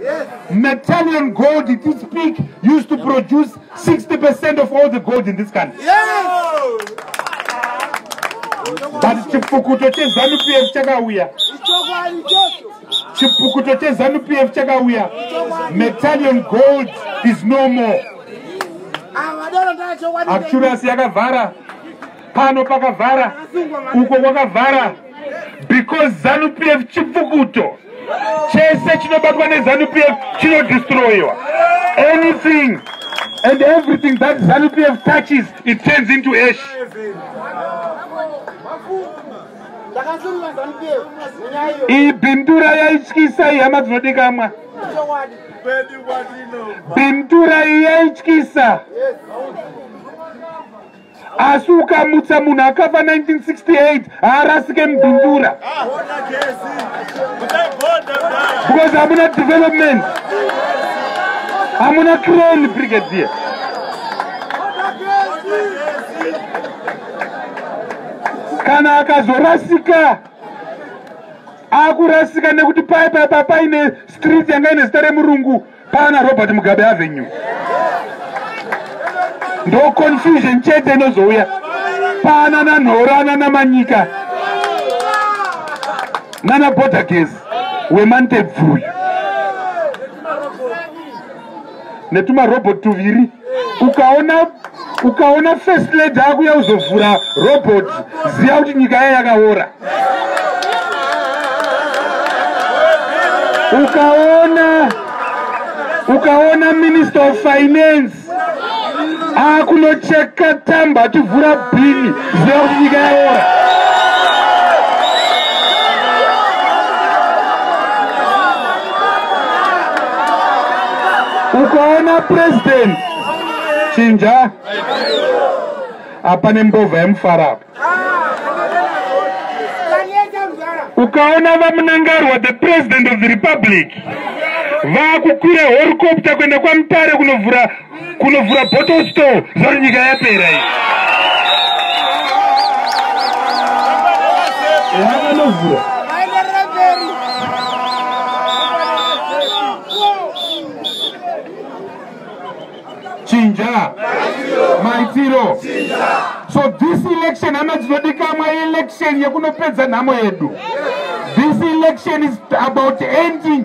Yes. Natalian gold it is peak used to produce 60% of all the gold in this country. Yes. But chipukuto chezanu PF chakauya. Chipukuto chezanu PF chakauya. Natalian gold is no more. Actually, asi yakavhara pano pakavhara uko kwakavhara because zanu p f chipfukuto chese chinobatwa nezanu p f chinodestroyiwa anything and everything that zanu p f touches it turns into ash iyi bindura yaityisa iyi hama dzinodikamwa bindura iyi yaityisa yes. asi ukamutsa munhu akafa 1968 haarasike mubindura because hamuna development hamuna crane brigadier kana akazorasika akurasika nekuti paipapa paine street yanga ine zita remurungu Pana Robert Mugabe Avenue. Ndo confusion chete inozouya. Pana na Nhorana na Manyika. Nana Border Case wemantebvu uyu. Netuma robot tuviri. ukaona ukaona first lady akuya kuzovhura robot ziya kuti nyika yaye yakaora ukaona ukaona minister of finance akunocheka tamba ativhura bhini ziya kuti nyika yaora ukaona president chinja hapane mbovha yemufara apa ukaona vamunangarwa the president of the republic vakukwira horicopta kuenda kwamutare kunovhura kunovhura bottle store zvauri nyika yapera iyi vakanovhura chinja maitiro so this election hama dzinodikamwa election yekunopedza nhamo yedu this election is about ending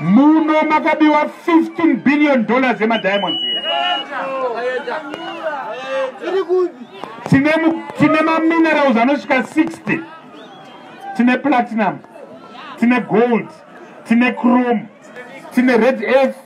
muno makabiwa 15 billion dollars emadiamonds tine maminerals anosvika 60 tine platinum tine gold tine chrome tine red earth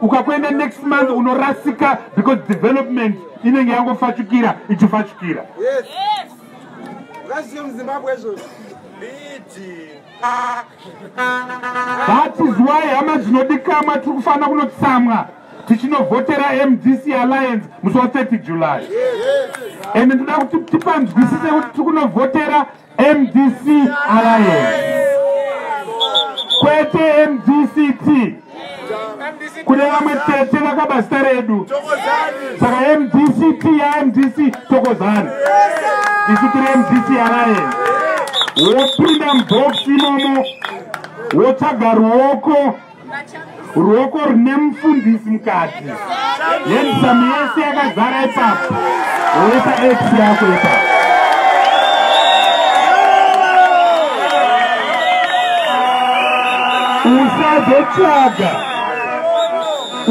ukakuenda next month unorasika because development inenge yangofachukira ichifachukira that is why hama dzinodikamwa tiri kufanira kunotsamwa tichinovhotera mdc alliance musi wa 30 july and ndoda kuti tipanzwisise kuti tiri kunovhotera mdc alliance kwete mdct kune vamwe tete vakaba zita redu saka mdct yamdc tokozani isu tiri mdc alliance wopinda mubhox imomo wotsvaga ruoko ruoko rune mufundisi mukati yendisamu yese yakazara ipapo woisa x yako ipapo usazotsvaga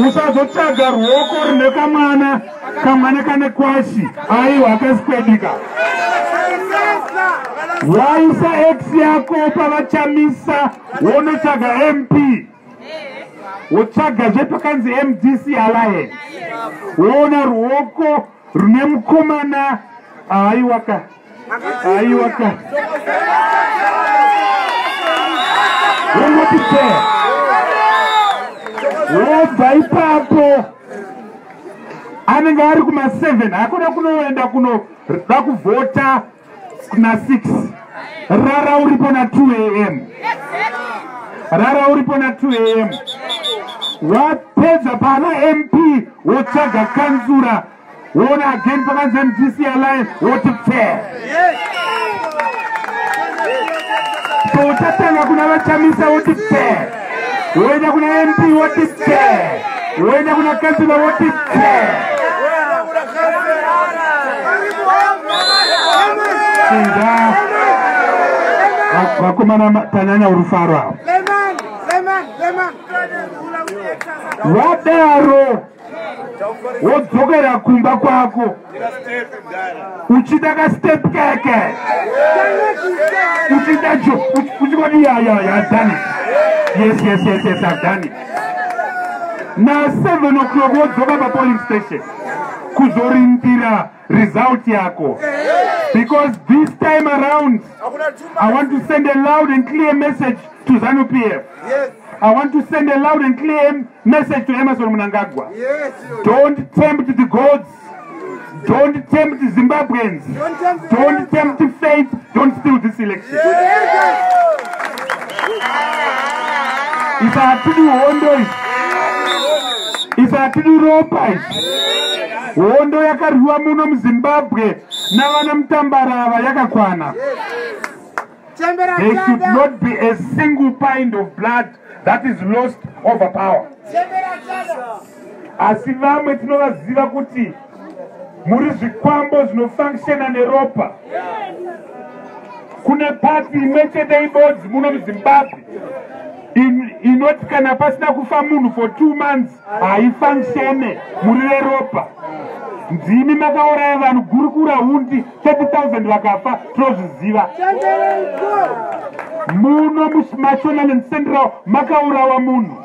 usazotsvaga ruoko rine kamwana kamwana kane kwashi aiwa akazikwedika waisa x yako pavachamisa wonotsvaga mp wotsvaga zvepakanzi mdc alliance woona ruoko rune mukomana aiwaka aiwaka wongoti te wobva ipapo anenge ari kuma 7 hakuda kunoenda kunoda kuvhota na 6 rara uripo na 2 am rara uripo na 2 am wapedza pana mp wotsvaga kanzura woona again pakanzi mdc alliance woti pfee so utatanga kuna vachamisa woti pfee woenda kuna mp woti pse woenda kuna kansila woti pse inda vakomana tanyanya urufaro avo vadaro wodzokera kumba kwako uchida kastep keke uchida jo uchikoti yayayadani yes yes yes yes adani na seven o'clock wodzoka papolice station kuzorindira result yako because this time around i want to send a loud and clear message to zanu p f i want to send a loud and clear message to emerson munangagwa don't tempt the gods don't tempt zimbabweans don't tempt faith Don't steal this election. If I to do wonders, if I to do ropas, hondo yakarwiwa muno muzimbabwe navana mutambarava yakakwana There should not be a single pint of blood that is lost over power asi vamwe tinovaziva kuti muri zvikwambo zvinofunctiona neropa kune pati imwe chete ibodzi muno muzimbabwe inoti kana pasina kufa munhu for two months haifunctione muri reropa ndimi makauraya vanhu gurukura hundi 30,000 vakafa tinozviziva muno mumashonaland central makaurawa munhu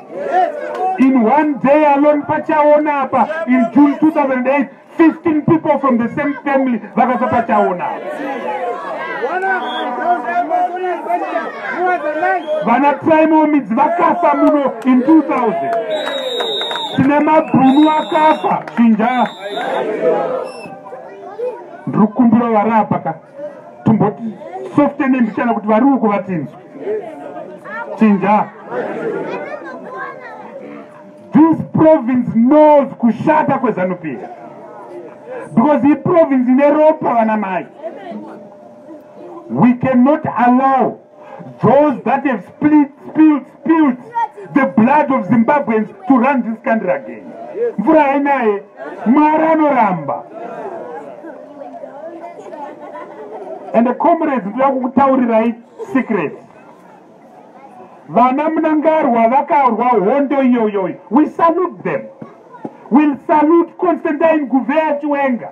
in one day alone pachaona apa in june 2008 15 people from the same family vakafa pachaona vana primo midzi vakafa muno in 2000 tine mabhunu akafa chinja ndiri kukumbira vari apa ka timboti softene mbichana kuti vari uko vatinzwe chinja this province knows kushata kwezanupira because iprovince ine ropa vana mai we cannot allow those that have split, spilled, spilled the blood of Zimbabweans to run this country again. Mvura hainaye, Mwari anoramba. And the comrades ndoda kukutaurirai secret. Vana Mnangarwa vakaurwa hondo iyoyoyi. We salute them. We'll salute Constantine Guvea Chiwenga.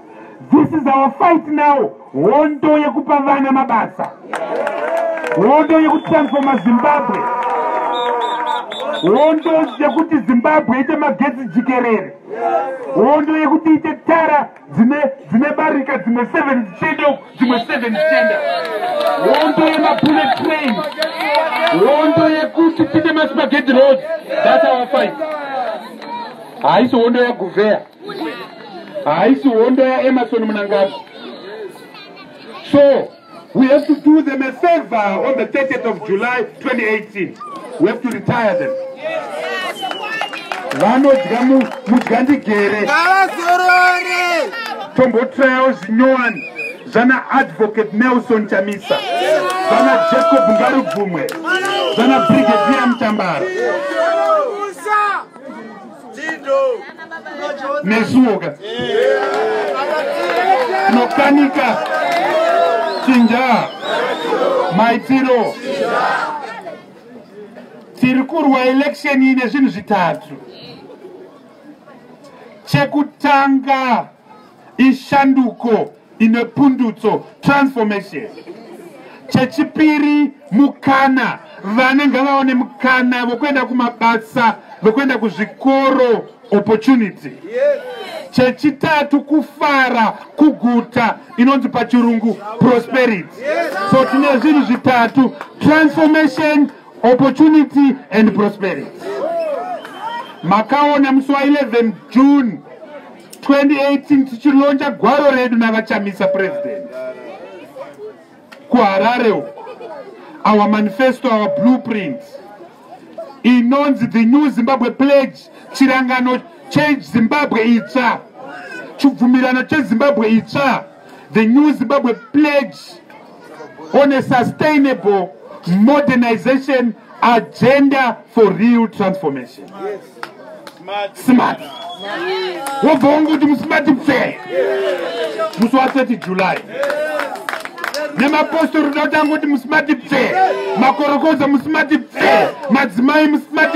This is our fight now. Hondo yekupa vana mabasa. Hondo yekutransforma Zimbabwe. Hondo yekuti Zimbabwe ite magetsi jikerere. Hondo yekuti ite tara dzine dzine barika dzimwe 7 dzichenda uku dzimwe 7 dzichenda. Hondo yemabullet train. Hondo yekuti tite maspaghetti roads. That's our fight. Haisi hondo yaguveya. haisi hondo yaemarson munangagwa so we have to do them a favor on the 30th of july 2018 we have to retire them vanodya mudya ndigere tombotrayawo zvinyowani zvana advocate nelson chamisa zvana jacob ngarubvumwe zvana brigadier mutambara nesuoka nokanika chinja maitiro tiri kurwa election ine zvinhu zvitatu chekutanga ishanduko ine pundutso transformation chechipiri mukana vana ngavaone mukana vokuenda kumabasa vokuenda kuzvikoro opportunity yes chechitatu kufara kuguta inonzi pachirungu prosperity so tine zvinhu zvitatu transformation opportunity and prosperity makaona musi wa 11 june 2018 tichilonja gwaro redu navachamisa president kuharare uku our manifesto our blueprint inonzi the new zimbabwe pledge chirangano change zimbabwe itsva chibvumirano chezimbabwe itsva the new zimbabwe pledge on a sustainable modernization agenda for real transformation smart wobva wangu kuti musmart pfe musi wa 30 july nemapostori uda kutanga kuti musmart pfe makorokoza musmart pfe madzimai musmart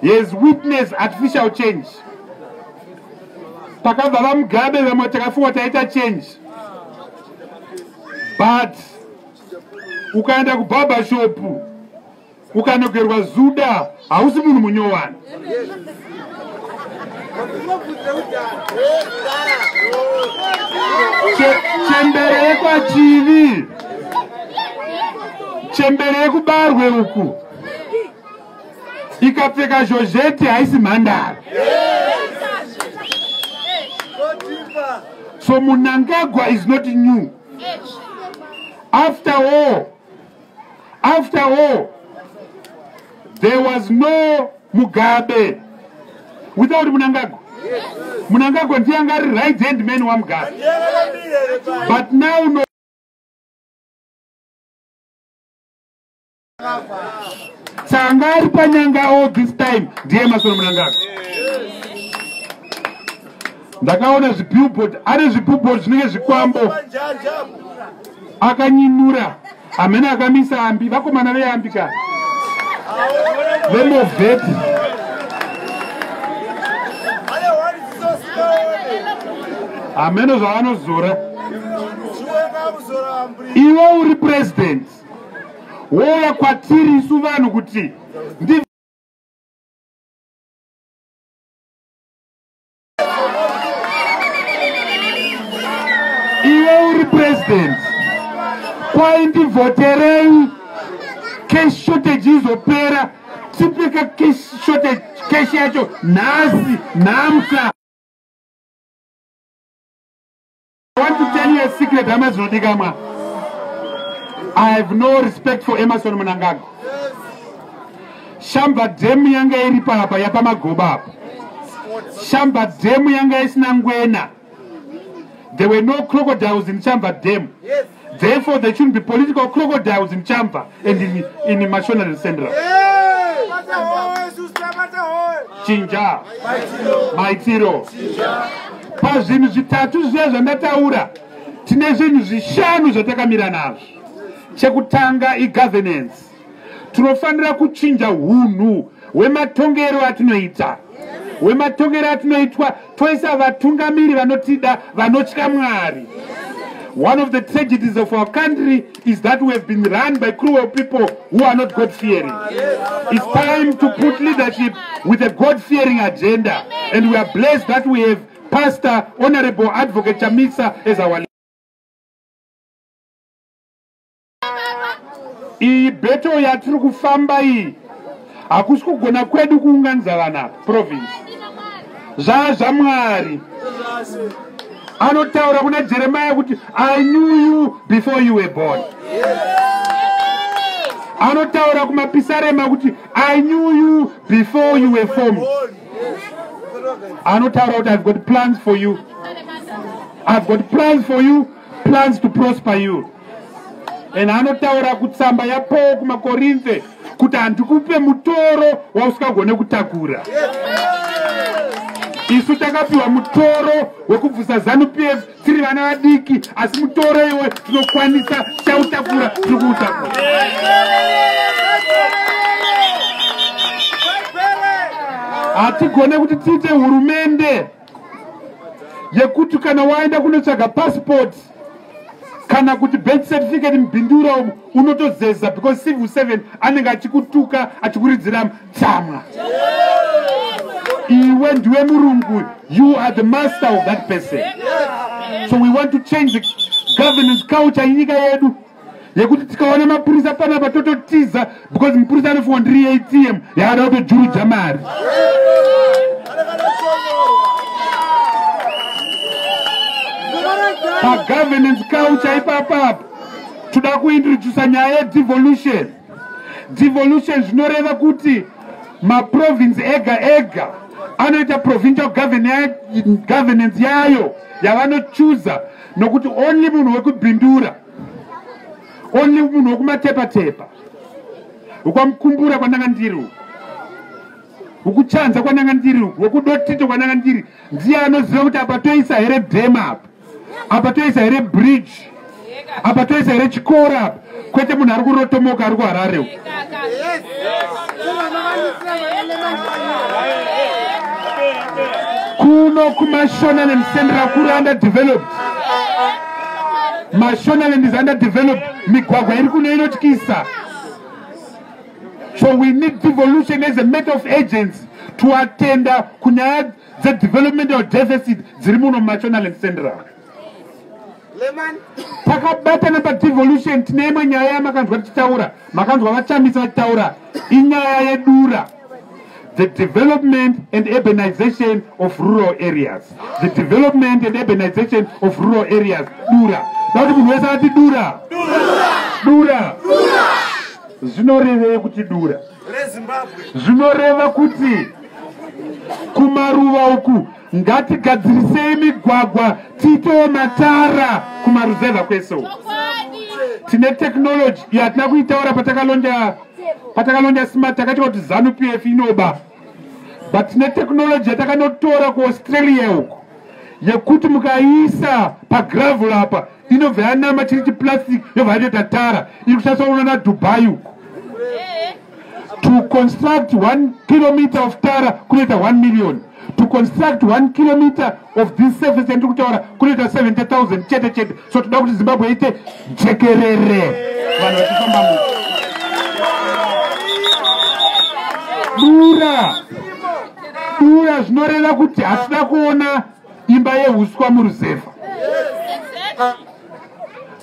he has witnessed artificial change takabva vamugabe vamwe takafunga taita change but ukaenda kubaba shopu ukanogerwa zuda hausi munhu munyowani chembere yekwachivi chembere yekubarwe uku ikapfeka zhozheti haisi mhandara so munangagwa is not new after all after all there was no mugabe without munangagwa munangagwa ndiye anga ari right hand man wamugabe but now no tsanga ari panyanga all this time ndiye masono munangaka ndakaona zvibillboard ari zvibillboard zvinenge zvikwambo akanyinura hamene akamisa ambi vakomana veambi ka vemovet hameno zvavanozora iwe uri president wova kwatiri isu vanhu kuti ndi iwe uri president kwai ndivhoterei cash shortage izopera tipeka cash shortage cash yacho nhasi nhamsa I want to tell you a secret hama dzinodikamwa I have no respect for Emerson Munangago shamba dhemu yanga iri papa yapamagoba apa shamba dhemu yanga isina ngwena there were no crocodiles in shamba dhemu yes. Therefore, there shouldn't be political crocodiles in Champa and in, in the Mashonari Central. Chinja. Maitiro. Pazvinhu zvitatu zviya zvandataura tine zvinhu zvishanu zvatakamira nazvo. Chekutanga igovernance. tinofanira kuchinja hunhu hwematongero atinoita hwematongero atinoitwa toisa vatungamiri vanotida vanotya mwari one of the tragedies of our country is that we have been run by cruel people who are not god fearing it's time to put leadership with a god fearing agenda and we are blessed that we have pastor honorable advocate chamisa as our iyi beto yatiri kufamba iyi hakusi kugona kwedu kuunganidza vana province zvaa zvamwari anotaura kuna jeremaya kuti i knew you before you were born anotaura kumapisarema kuti i knew you before you were formed anotaura kuti i've got plans for you i've got plans for you plans to prosper you and anotaura kutsamba yapaul kumakorinthe kuti handikupe mutoro wausingagone kutakura isu takapiwa mutoro wekubvusa zanu p f tiri vana vadiki asi mutoro iwe tinokwanisa tichautakura tiri kuutakura hatigone kuti tiite hurumende yekuti kana waenda kunotsvaga pasipoti kana kuti birth certificate mubhindura umu unotozeza because civil seven anenge achikutuka achikuridzira tsamwa iwe ndiwe murungu you are the master of that person so we want to change the governance culture yenyika yedu yekuti tikaona mapurisa panapa tototiza because mupurisa anofunga ndiri atm yaada kutojuruja mari pagovernance culture ipapapa toda kuintrodusa nyaya yedevolution devolution zvinoreva kuti maprovince ega ega anoita provincial governance yayo yavanochuza nokuti only munhu wekubhindura only munhu wekumatepatepa ukwamukumbura kwandanga ndiri uku ukuchanza kwananga ndiri uku wekudotito kwananga ndiri ndiye anoziva kuti apa toisa here dam apa apa toisa here bridge apa toisa here chikoro apa kwete munhu ari kurotomoka ari kuhararewo kuno kumashonaland central kuri under developed mashonaland is under developed migwagwa iri kuno inotyisa so we need devolution as a matter of agents to attenda kunyaya dzedevelopmental deficit dziri muno mumashonaland central takabatana padevolution tine imwe nyaya yamakanzwa tichitaura makanzwa vachamisa vachitaura inyaya yedura the development and urbanization of rural areas the development and urbanization of rural areas dura dakuti munhu wese ati dura dura zvinorevei kuti dura zvinoreva kuti kumaruva uku ngatigadzirisei migwagwa tiitewo matara kumaruzevha kwese uku tine technology iyo hatina kuitaura patakalonja patakalonja smart takatiwa kuti zanu p f inoba but tine technology yatakanotora kuaustralia uku yekuti mukaiisa pagravel apa inobva yanama chiri chiplastic yobva yatoita tara iri kushandiswa uno nadubai uku to construct one kilometer of tara kunoita one million to construct one kilometer of this surface yandiri kutaura kunoita 70 000 chete chete so toda kuti zimbabwe ite jekerere vanhu vachifamba mu dura dura zvinoreva kuti hatida kuona imba yehuswa muruzevha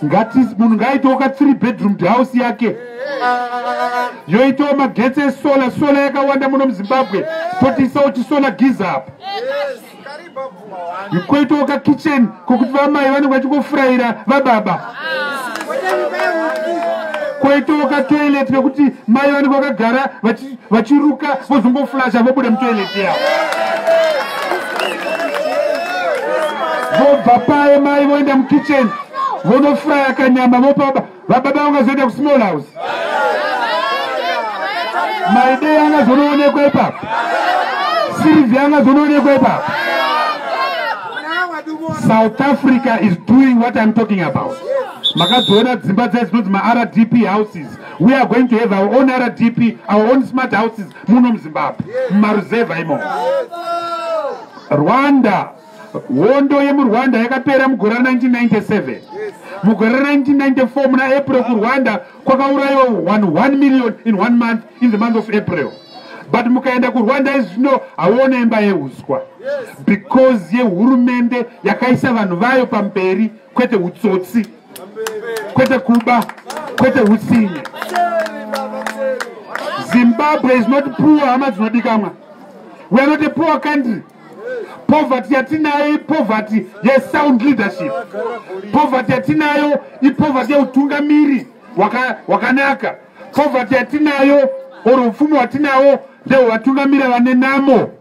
ngati munhu ngaaitawo ka three bedroom house yake yoitawo magetsi esola sola yakawanda muno muzimbabwe totiisawo tisola giza apa koitawo ka kitchen kokuti vamai vanenge vachingofurayira vababa koitawo ka toilet kekuti mai vanenge vakagara vachi vachiruka vozongoflasha vobuda mutoilet yavo vobva paye mai voenda mukitchen vonofraya kanyama vopaba vababa vangazoenda kusmall house maidei angazonoonekwa ipapo sirivhi angazonoonekwa ipapo south africa is doing what iam talking about makadziona dzimba dzai dzinonzi maardp houses we are going to have our own rdp our own smart houses muno muzimbabwe mumaruzevha imo rwanda hondo yemurwanda yakapera mugore ra 1997 mugore ra 1994 muna april kurwanda kwakaurayiwa 11 million in one month in the month of april but mukaenda kurwanda izvi zvino hauona imba yeuswa because yehurumende yakaisa vanhu vayo pamberi kwete utsotsi kwete kuba kwete utsinye zimbabwe is not poor hama dzinodikamwa we are not a poor country poverty yatinayo ipoverty yesound leadership poverty yatinayo ipoverty yeutungamiri wakanaka poverty yatinayo or upfumi hwatinawo ndehwevatungamiri vane namo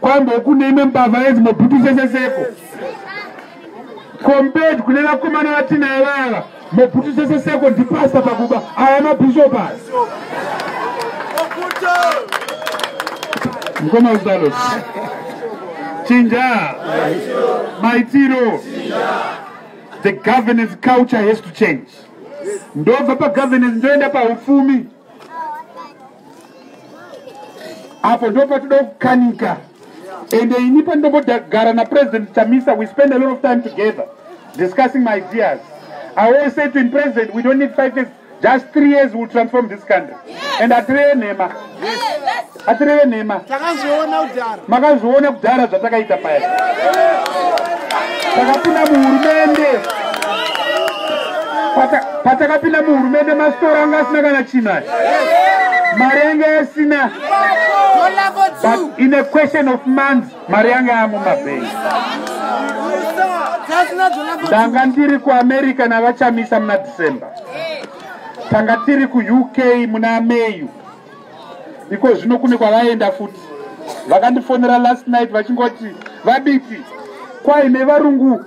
kwambo kune imwe mbavha yenzi mobhutu seseseko compared kune vakomana vatinayo vava mobhutu seseseko ndipasta pakuba aya mabhishopu aya mukoma usalos chinja maitiro the governance culture has to change ndobva pagovernance ndoenda paupfumi apo ndo patinoda kukanika ende ini pandombogara napresident chamisa we spend a lot of time together discussing my ideas i always say to him president we don't need five years just three years will transform this country and atireve nhema atireve nhema makazviona kudhara zvatakaita paya takapinda muhurumende patakapinda muhurumende masitora anga asina kana chinhu aya mari yange yasina but in a question of months mari yange yamo mabhengi ndanga ndiri kuamerica navachamisa muna december tanga tiri kuuk muna mayu iko zvino kune kwavaenda futi vakandifonera last night vachingoti vabiti kwaine varungu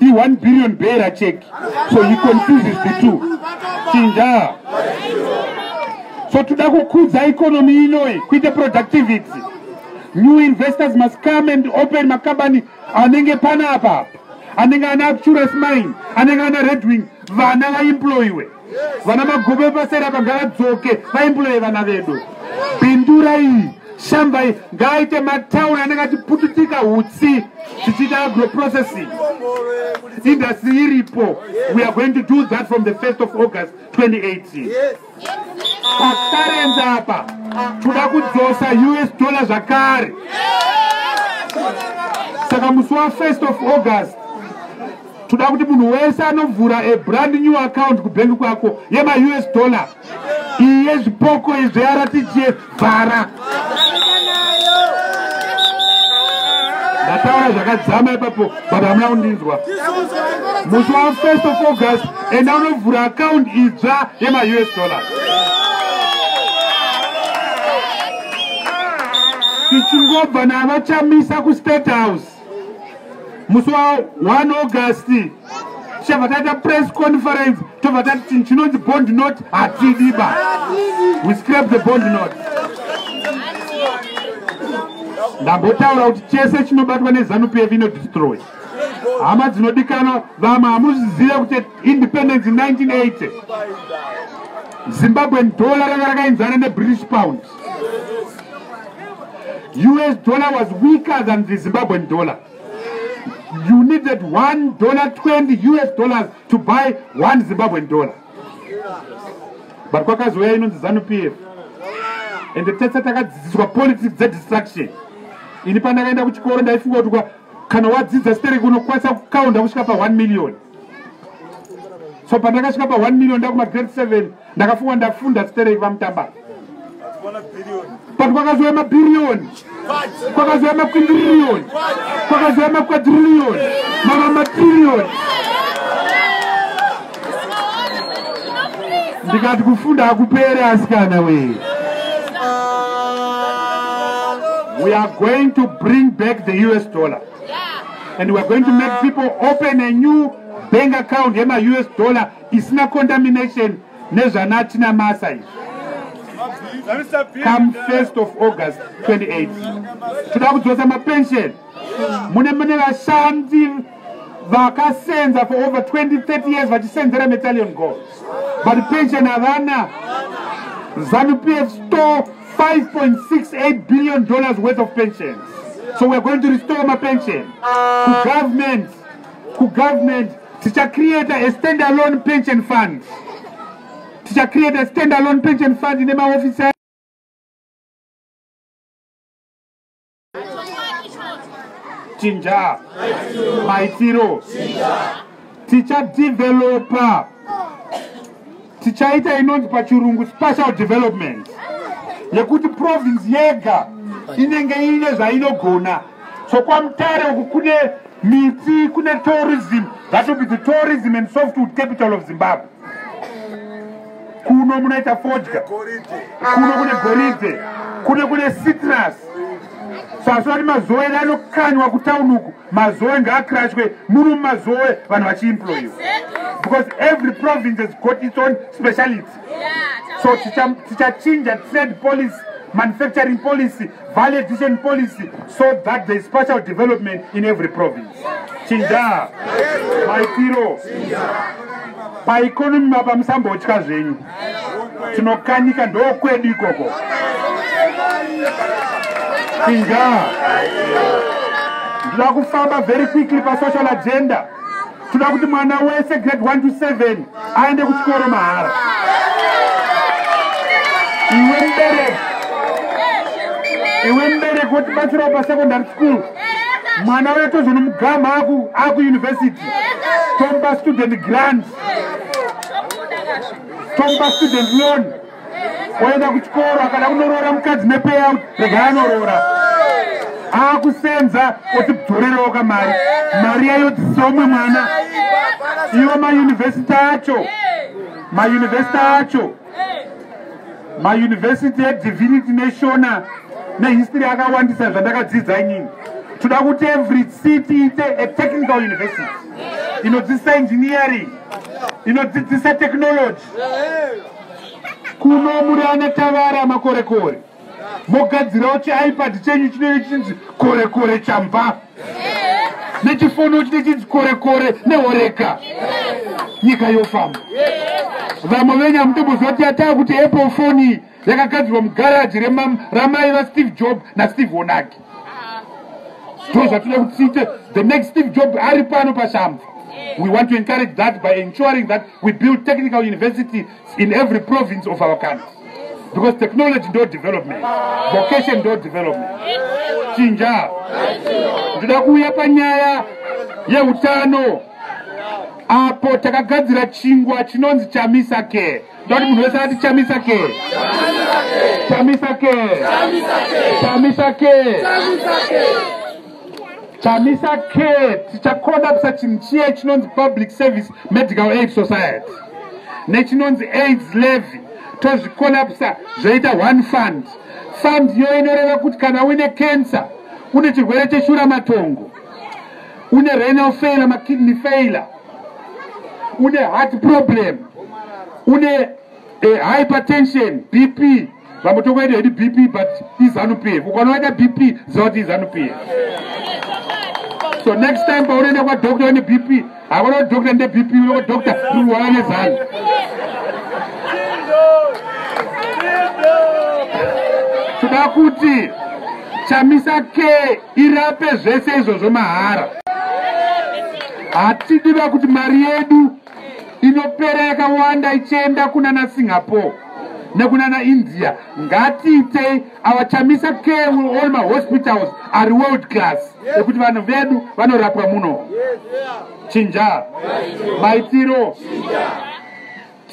i1 billion bearer check so he confuses the two chinja so toda kukudza economy inoyi kuite productivity new investors must come and open makambani anenge panapa anenge ana acturus mine anenge ana redwing vana vaemployiwe vana magobe vepasera vagaradzoke vaimbulei vana vedu pindurai shambai ngaaite matauni anenge achipututika utsi tichiita agroprocessing industry iripo we are going to do that from the 1st of august 2018 patarenza apa toda kudzosa us dollar zvakare saka musi wa 1st of august toda kuti munhu wese anovhura a brand new account kubhengi kwako yemaus dollar iyi yezvipoko izvearatitie vhara ndataura zvakadzama ipapo but hamuna kundinzwa musi wa first of august enda unovhura account idzva yemaus dollars tichingobva navachamisa kustate house musi wa 1 august tichabva taita press conference tobva tati chinhu chinonzi bond note hatidi ba we scrap the bond note ndambotaura kuti chese chinobatwa nezanu pf inodestroy hama dzinodikanwa vamwe hamuzizive kuti independence 1980 zimbabwen dollar ranga rakainzana nebritish pound us dollar was weaker than the zimbabwean dollar you needed one dollar 20 us dollars to buy one zimbabwean dollar but kwakazouya inonzi zanupf and tese takadzidziswa politics dzedistraction ini pandakaenda kuchikoro ndaifunga kuti kana wadzidza stereki unokwanisa kukaunda kusvika pa 1 million so pandakasvika pa 1 million ndakuma grade 7 ndakafunga ndafunda stereki vamutamba but kwakazouya mabhiriyoni kwakazouya makwindiriyoni kwakazouya makwadhiriyoni mama matiriyoni ndikati kufunda hakupere asikana wee we are going to bring back the us dollar and weare going to make people open a new bank account yemaus dollar isina contamination nezvanatina masa izvi come 1st of august 28 toda kudzosa mapension mune mune vashandi vakasenza for over 20 30 years vachisenzera metallion gold but pension havana zanu p f store 5.68 billion dollars worth of pensions so weare going to restore mapension kugovernment kugovernment tichacreate a stand alone pension fund tichacreate a stand alone pension fund nemaofisa chinja maitiro tichadevelopa tichaita inonzi pachirungu special development yekuti province yega inenge ine zvainogona so kwamutare uku kune miti kune tourism that will be the tourism and softwood capital of zimbabwe kuno munoita fodya kuno kune goridhe kuno kune citrus sasvati mazoe edu anokanywa kutown uku mazoe ngaakirashwe muno mumazoe vanhu vachiimployiwa because every province has got its own speciality so tichachinja trade policy manufacturing policy value addition policy so that there is special development in every province chinjaa maitiro paikonomi mapa musambotya zvenyu tinokanika ndokwedu ikoko chinjaa ndinoda kufamba very quickly pasocial agenda toda kuti mwana wese grade 1 to 7 aende kuchikoro mahara iwe mbereki iwe mbereki wotibatsirawo pasecondary school mwana uya tozonomugama akuuniversity tomba student grant tomba student loan oenda kuchikoro akada kunoroora mukadzi nepayout rega anoroora akusenza oti bdzorerewo ka mari mari yayo dzisomwe mwana iwo mayunivhesiti acho mayunivhesiti acho mayunivhesiti edivinity neshona nehistory akawandisa zvandakadzidza inini toda kuti every city ite a technical university inodzidzisa engineering inodzidzisa technology kuno muri ana tavara makorekore mogadzirawo chiipad chenyu chinenge chichinzi korekore chamba nechifono chine chinzi korekore nehoreka nyika yofamba vamwe venyu hamutomboziva kuti yataa kuti apple foni yakagadzirwa mugaraji ramai vasteve job nasteve onaki so zvatinoda kuti tiite the next steve job ari pano pashamva we want to encourage that by ensuring that we build technical university in every province of our country because technology ndo development vocation ndo development chinja ndoda kuuya panyaya yeutano apo takagadzira chingwa chinonzi chamisa care ndoti munhu wese ati chamisa ke chamisa ke chamisa ke chamisa ke tichakodapisa chinhu chiye chinonzi public service medical aid society nechinonzi aids levy tozvikolapisa zvoita one fund fund iyo inoreva kuti kana uine cancer une chirwere cheshura matongo une renal failure makidney failure une heart problem une eh, hypertension bp vamwe tokuenda hedi bp but izanupf ukanovaita bp ziva kuti izanupf so next time paunoenda kwadoctor une bp hakuna kuti doctor nde bp une kwadoctor kurwara nezanu toda kuti chamisa ke irape zvese izvozvo mahara Hatidiba kuti mari yedu inopera yakawanda ichienda kunana Singapore nekunana India. Ngatiitei our Chamisa care will all my hospitals are world class ekuti vanhu vedu vanorapwa muno. Chinja maitiro.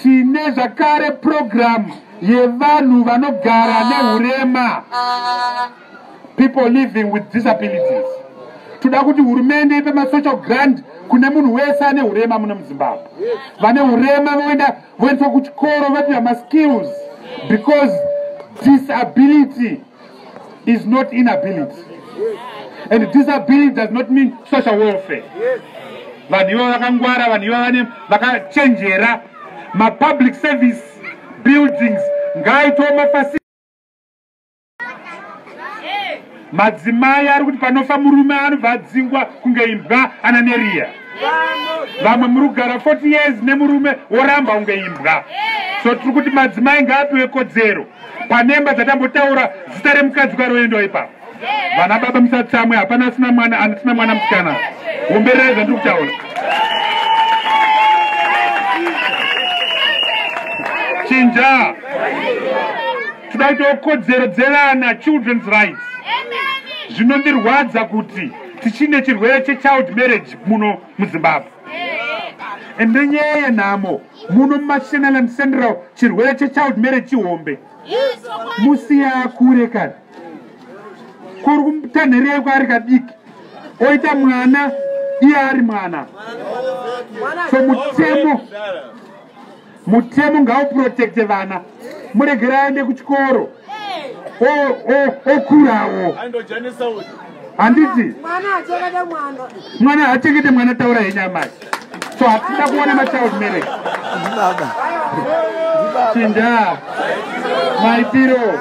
Tine zvakare purogiramu yevanhu vanogara nehurema, people living with disabilities. Toda kuti hurumende ipe masocial grant kune munhu wese ane hurema muno muzimbabwe vane hurema voenda voendeswa kuchikoro vopiwa maskills because disability is not inability and disability does not mean social welfare vanhu ivo vakangwara vanhu ivo vane vakachenjera mapublic service buildings ngaaitoo mafasi madzimai ari kuti panofa murume anobva adzingwa kunge imbwa ana neriya vamwe muri kugara 40 years nemurume woramba kunge imbwa so tiri kuti madzimai ngaapiwe kodzero panemba dzatambotaura zita remukadzi kwaroendwa ipapo vana baba musatsamwe hapana asina mwana anisina mwana musikana umberere zvandiri kutaura chinja toda kutiwo kodzero dzevana children's rights zvinondirwadza kuti tichine chirwere chechild marriage muno muzimbabwe and nenyaya yenhamo muno mumashenaland central chirwere chechild marriage chihombe musiya akure kana kuri kutanherei kwaari kadiki oita mwana iye ari mwana so mutemo mutemo ngauprotecte vana muregera aende kuchikoro okurawo handiti mwana haachengete mwana taura henyu amai so hatida kuona machild marriage chindaa maitiro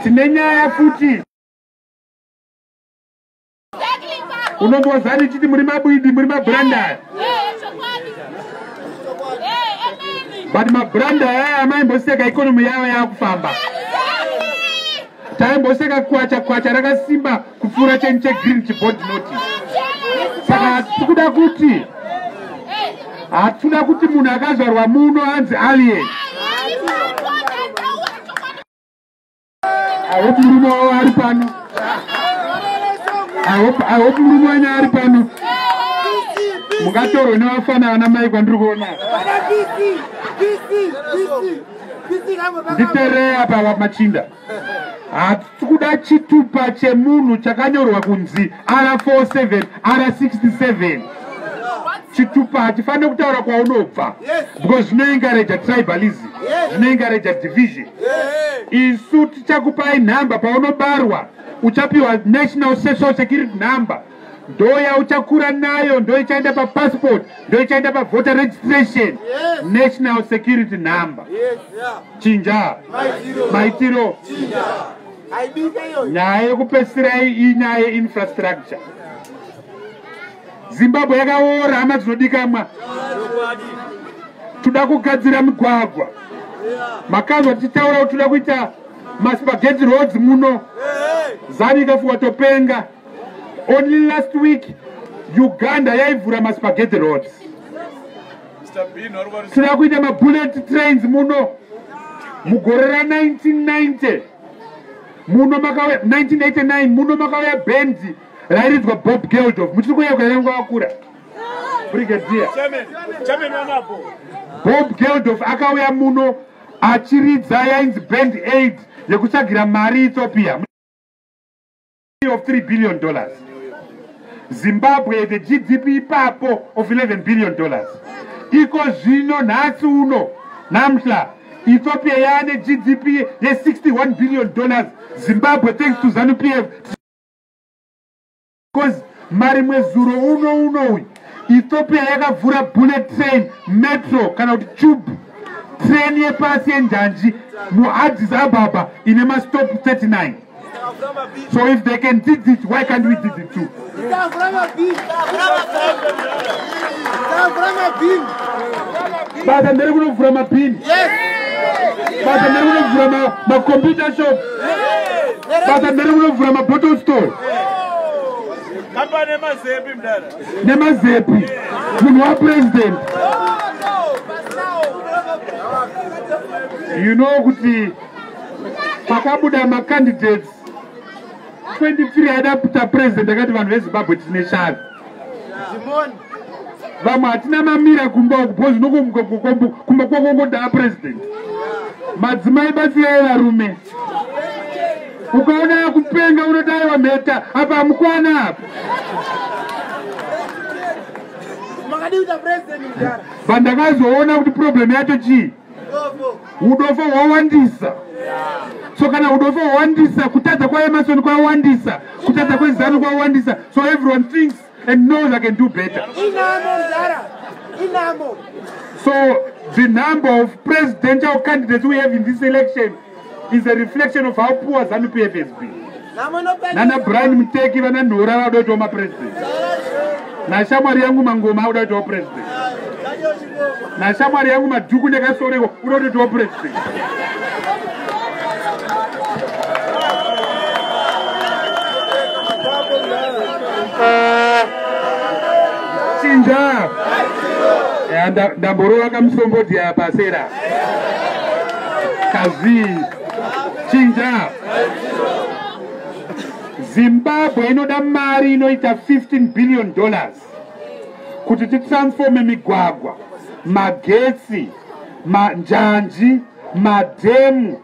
tine nyaya futi unombozani chiti muri mabwidi muri mabranda but mabranda aya amaimboseka ikonomi yavo yakufamba taimboseka kwacha kwacha rakasimba kupfuura cheni chegreen chibod noti saka hatisi kuda kuti hatisi kuda kuti munhu akazvarwa muno anzi alien I hope murume wavo ari pano. I hope, I hope murume wenyu ari pano. Mungatorwe nevafana vana mai kwandiri kuona. Nditerei apa machinda. Hatisi kuda chitupa chemunhu chakanyorwa kunzi R47, R67. chitupa hatifanire kutaura kwaunobva because zvinoengareja tribalism zvinoengareja division isu tichakupai nhamba paunobarwa uchapiwa national social security number ndoya uchakura nayo ndo ichaenda papassport ndo ichaenda pavoter registration yes. national security number yes, yeah. chinja maitiro nyaya yekupesirai inyaya yeinfrastructure zimbabwe yakaora hama dzinodikamwa toda kugadzira migwagwa makanzwa tichitaura kuti toda kuita maspageti roads muno zanu ikafuwa topenga only last week uganda yaivhura maspageti roads toda kuita mabullet trains muno mugore ra 1990 muno makauya 1989 muno makauya bendi rairidzwa bob geldof muchiri kuyeukwa here nguva vakura brigadier bob geldof akauya muno achiridza yainzi band aid yekutsvagira mari ethiopia of 3 billion dollars zimbabwe the gdp ipapo of 11 billion dollars iko zvino nhasi uno namhla ethiopia yaane gdp ye 61 billion dollars zimbabwe thanks to zanupf Because marimwe zuro uno uno uyu ethiopia yakavhura bullet train metro kana kuti tube train yepasi yenjanji muaddis ababa ine mastop 39 so if they can did it why can't we did it too basa ndere kunovhura mabhini basa ndere kunovhura macompute shop basa ndere kunovhura mabottle store nemazepi munhu wapresident you know kuti pakabuda macandidates 23 aida kuita president akati vanhu vezimbabwe tine shavi vamwe hatina mamira kumba uku bcoz unokomuka kumba kwakongodaa president madzimai batsirai varume ukaona akupenga unodai wamheta apa hamukwana apa pandakazoona kuti problem yacho chii udofo hwawandisa so kana udofo hwawandisa kutadza kwaemasoni kwawandisa kutadza kwezanu kwawandisa so everyone thinks and knows i can do better so the number of presidential candidates we have in this election is a reflection of how poor zanu pf has been nana brian muteki vana nhora vauda kuitawo mapresident nashamwari yangu mangoma auda kuitawo president nashamwari yangu madhuku nekasoreko uda kutoitawo president chinja ndamborova kamusombodhi apa sera kazii chinja zimbabwe inoda mari inoita 15 billion dollars kuti titransforme migwagwa magetsi manjanji madhemu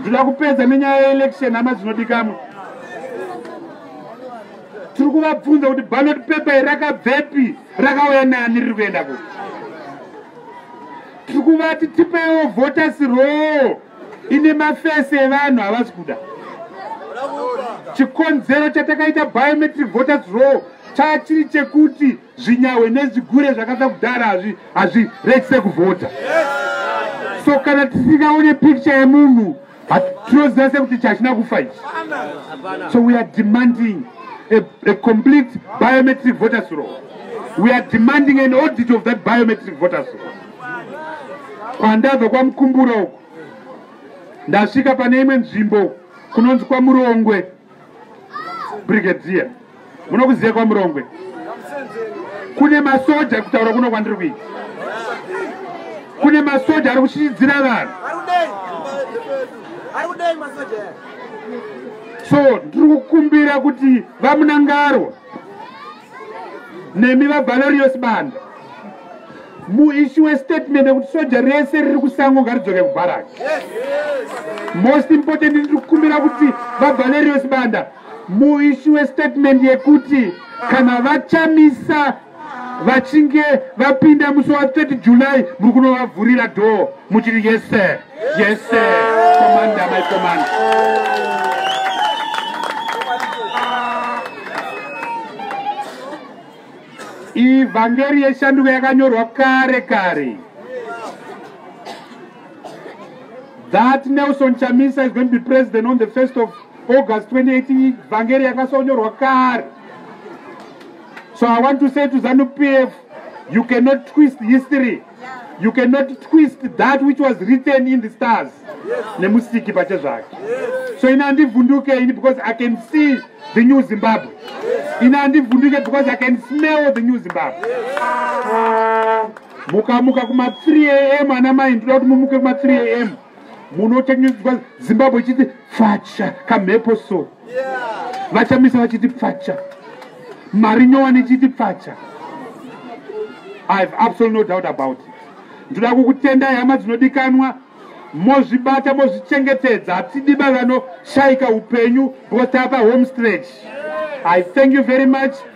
ndoda kupedza nenyaya yeelection hama dzinodikamwa tiri kuvabvunza kuti ballot paper iri rakabvepi rakauya nani riri kuenda kuti tiri kuvati tipeiwo voters roo ine mafesi evanhu havasi kuda chikonzero chatakaita biometric voters roo chachiri chekuti zvinyahwe nezvigure zvakasa kudhara hazvi hazvi rekise kuvhota so kana tisingaone picture yemunhu tinoziva sekuti chachina kufa ichi so we are demanding a, a complete biometric voters roll we are demanding an audit of that biometric voters roll kwandabva kwamukumbura uku ndasvika pane imwe nzvimbo kunonzi kwamurongwe brigadier munokuziva kwamurongwe kune masoja kutaura kuno kwandiri kuita kune masoja ari kuchichidzira vanhu so ndiri kukumbira kuti vamunangarwa nemi vavalorios banda muishiwe statement yekuti soja rese riri kusango ngaridzoke kubharaki most important ndiri kukumbira kuti vavalorios banda muishiwe statement yekuti kana vachamisa vachinge vapinda musi wa 30 july muri kunovavhurira dhoo muchiri yese Yes sir. Commander my commander. Ivhangeri yeshanduko yakanyorwa kare kare. That Nelson Chamisa is going to be president on the 1st of August 2018. Ivhangeri yakasonyorwa kare. So I want to say to ZANU PF, you cannot twist history. you cannot twist that which was written in the stars nemusiki pache zvake so ini handivhunduke ini because i can see the new zimbabwe ini handivhunduke because i can smell the new zimbabwe mukamuka kuma 3 am ana mai ndoda kuti mumuke kuma 3 am munotengeswa zimbabwe ichiti facha kamhepo so vachamisa vachiti pfacha mari nyowani ichiti pfacha i have absolutely no doubt about it ndoda kukutendai hama dzinodikanwa mozvibata mozvichengetedza hatidi bavano shaika upenyu because tapa home stretch i thank you very much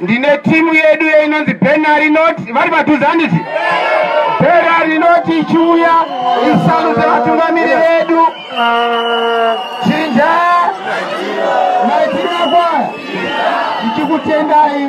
ndine timu yedu yeinonzi bena rinoti vari padhuze handiti bena rinoti ichiuya isaruze vatungamiri vedu chinja maitirira kwaya ndichikutendai